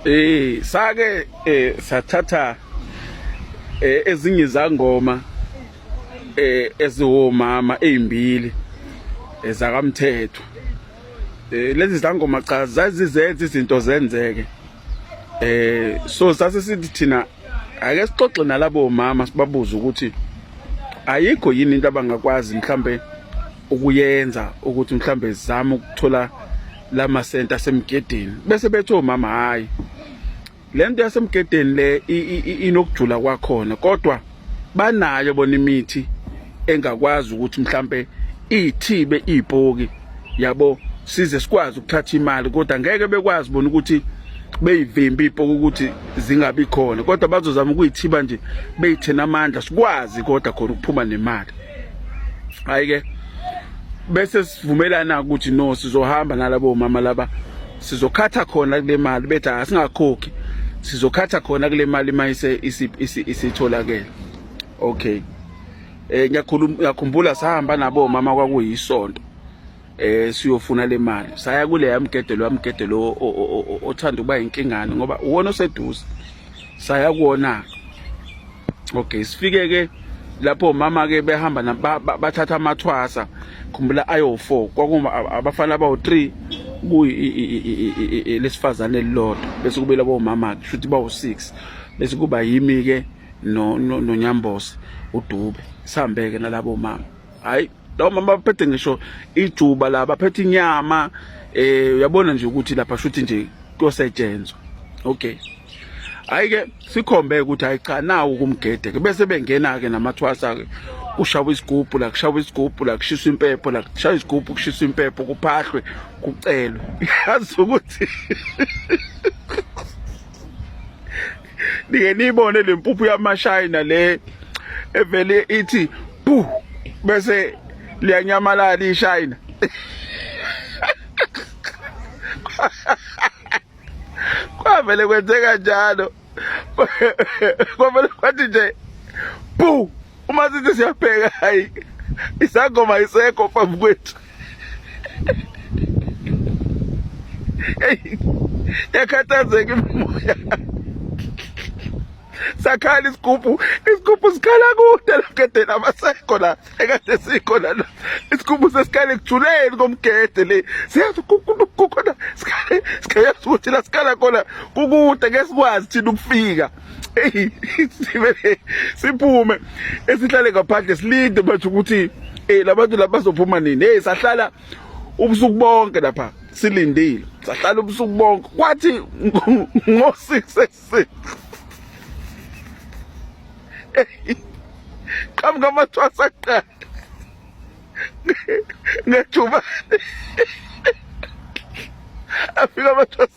Eh sake eh sathatha eh ezinye izangoma eh eziwomama ezimbili ezakamthetho. Eh, eh lezi zangoma cha zazizenza izinto zenzeke. Eh so sase sithi thina ake sixoxe nalabo mama sibabuze ukuthi ayikho yini into abangakwazi mhlambe ukuyenza ukuthi mhlambe zizame ukuthola lama center asemgedeni bese bethi omama hayi lento yasemgedeni le inokujula kwakhona kodwa banayo bona imithi engakwazi ukuthi mhlambe ithibe ipoki yabo size sikwazi ukuthatha imali kodwa ngeke bekwazi bona ukuthi beyivimbi ipoki ukuthi zingabi khona kodwa bazozama ukuyithiba nje beyithena amandla sikwazi kodwa khona ukuphuma nemali hayi ke bese sivumelana ukuthi no sizohamba nalabo mama laba sizokhatha khona kule mali bethi asingakhokhi sizokhatha khona kule mali mayise isitholakele okay eh ngiyakhumbula sahamba nabo mama kwakuyisonto eh siyofuna le mali saya kule yamgedelo yamgedelo othanda ukuba inkingane ngoba uwona oseduze saya kuwona okay sifike ke lapho mama ke behamba bathatha amathwasa khumbula ayo4 kwakuma abafana abawu3 kuyi lesifazane elilodwa bese kube labo mama ke futhi bawu6 bese kuba yimi ke no nonyambose udube sihambeke nalabo mama hayi lawo mama baphethe ngisho ijuba la baphethe inyama eh uyabona nje ukuthi lapha shuthi nje kuyosetshenzwa okay hayi ke sikhombe ukuthi hayi cha nawo kumgede ke bese bengena ke namathwasa ke kushawa isigubhu la kushawa isigubhu la kushiswa impepho la kushawa isigubhu kushiswa impepho kuphahlwe kucelwe yazi ukuthi nike niyibone le mpuphu yamashayina le evele ithi bu bese liyanyamalala ishayina kwavele kwenzeka njalo kwavele kwathi nje bu uma sithi siyabheka hayi isangoma isekho phambi kwethu yakhathazeka imimoya sakhala isigubhu isigubhu sikhala kude logedeni abasekho la ekade sikho la isigubhu sesikhala ekujuleni komgede le siyazi kukhona sikhala siyazi ukuthi la sikhala khona kukude ngesikwazi thina ukufika eyi sivele siphume esihlale ngaphandle silinde manje ukuthi um labantu laba bazophuma nini eyi sahlala ubusuku bonke lapha silindile sahlala ubusuku bonke kwathi ngo-six ekuseni qhamuka amathwasa kuqala ngethubane afika amathwasa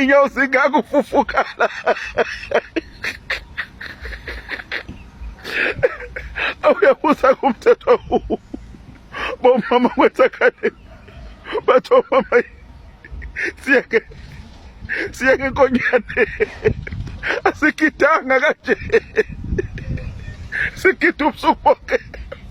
inyawo zingakufufukala awuyabuza kumthetho bomama kwenzakhale batho mama siyeke siyeke inkonyane asigidanga kanje sigida ubusuku bonke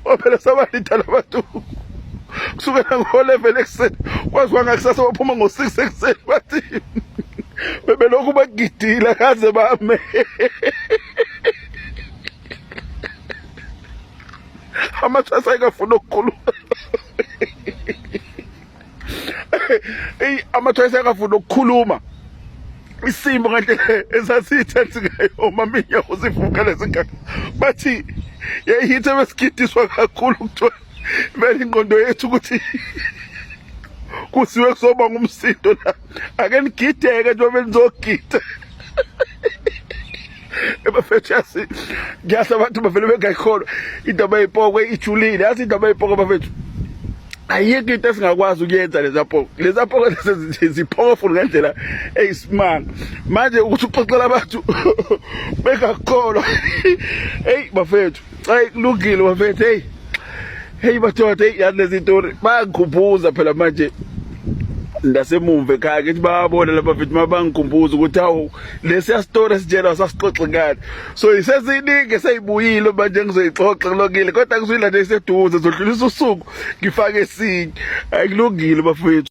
ngoba phela sabalida labantu kusukela ngo-11 ekuseni kwaziwa ngakusasa baphuma ngo-6 ekuseni bathi bebelokhu bagidile kaze bame amathwasa ayikafuni ukukhuluma eyi amathoyisa akafuni ukukhuluma isimo kanti esasiyithensi ngayo omaminya uzivuka lezingane bathi yayihithe besigidiswa kakhulu kuthiwa vele ingqondo yethu ukuthi kusiwe kuzoba ngumsindo la ake nigideke njengoba nizogida ebafethu yasi ngiyasho abantu bavele bengayikholwa indaba yepoko ijulile yazi indaba yepoko bafethu ayikho into esingakwazi ukuyenza lezapoko lezapoko ziphokoful ngendlela eyisimanga manje ukuthi uxoxela abantu bengakholwa eyi bafethu Ay kulungile bafethu hey. Hey madoda hey yazi lezi tori bayakhuphuza phela manje ndasemumva ekhaya ngithi bayabona laba mfethu mabangikhumbuza ukuthi hawu lesiya story esitshela sasixoxe ngani so iseziningi seyibuyile manje ngizoyixoxa kulokile kodwa ngizuyila nje iseduze zodlulisa usuku ngifake esinye ayikulungile bafethu